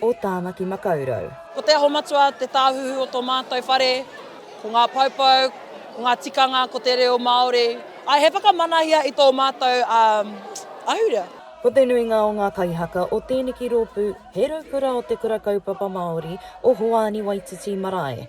o Tāmaki Makaurau. Ko Te Aho Matua te tāhuhu o tō mātou whare, ko ngā poupou, ko ngā tikanga, ko te reo Māori. He whakamanahia i tō mātou ahurea. Ko te nuinga o ngā kaihaka o tēneki rōpū he raukura o Te Kura Kaupapa Māori o Hoani Waititi Marae.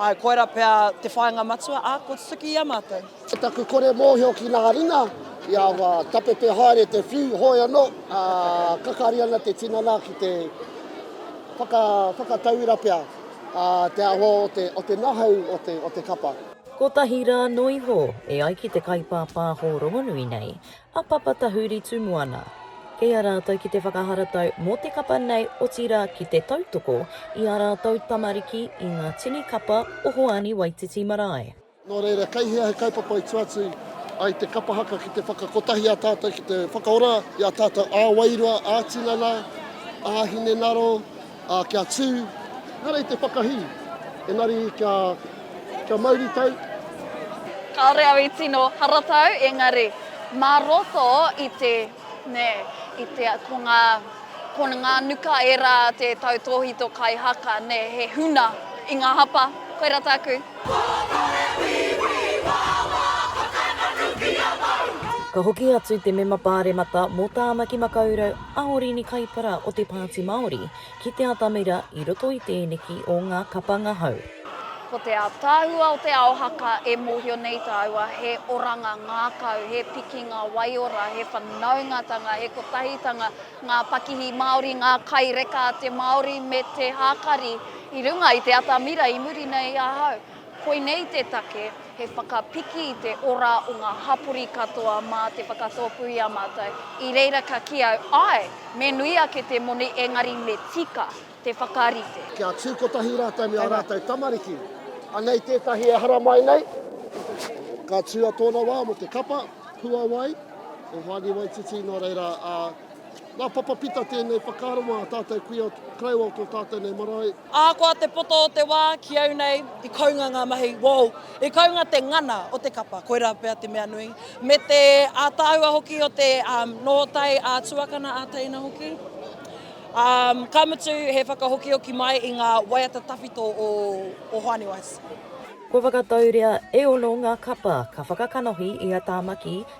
Ae, koira pea te whainga matua a ko Tutuki i a matou. Ko taku kore mohio ki na ringa, i a wa, tapepe haere te whiu, hoi ano, a, kakari ana te tinana ki te whaka, whakatauira pea, a, te aho o te, o te nahau o te, o te kapa. Kotahi ra noiho, e ai ki te kaipāpāho rongonui nei, a Papa Tahuri Tumuana, kei a rātou ki te whakaharatau mō te kapa nei otirā ki te tautoko i ā rātou tamariki i ngā tini kapa o Hoani Waititi Marae. Nō reira, kei hea he kaupapa i tuatu ai te kapa haka ki te whakakotahi a tātou ki te whakaora i ā tātou ā-wairua, ā-tinana, ā-hinengaro, Ā, kia tū, ehara i te whakahī, engari kia, kia mauritau. Kāore au i tino haratau, engari mā roto i te, nē, i te, ko ngā, ko ngā nuka ērā te tautōhito kai haka, nē, he huna i ngā hapa. Koirā tāku. Pōtore wīwī wāwā whakananukia mau. Ka hoki atu te mema Pāremata mō Tāmaki Makaurau, a Orini Kaipara o te Pāti Māori ki te atamira i roto i tēneki o ngā kapa ngahau. Ko te ataahua o te ao haka e mōhio nei tāua he oranga ngākau, he pikinga waiora, he whanaungatanga, he kotahitanga ngā pakihi Māori, ngā kai reka a te Māori me te hākari i runga i te atamira i muri nei ahau. Koinei te take, he whakapiki i te ora o ngā hapori katoa mā te whakatōpū i a mātou. I reira ka kī au, āe, me nui ake te moni engari me tika te whakarite. Kia tū kotahi rātou me ā rātou tamariki. Anei tētahi e haramai nei. Ka tū a tōna wā mō te kapa, puawai, o Hoani Waititi, nō reira, ā, Nā Papa Pita tēnei whakaaro mā tātou kuia koroua o tō tātou nei marae. Ahakoa te poto o te wā, ki au nei, i kounga ngā mahi, woo! I kounga te ngana o te kapa, koirā pea te mea nui, me te ātaahua hoki o te nōtai ā-tuakana, ā-teina hoki. Ka mutu, he whakahokioki mai i ngā waiata tawhito o Hoani Wise. Kua whakatauria e ono ngā kapa ka whakakanohi i a Tāmaki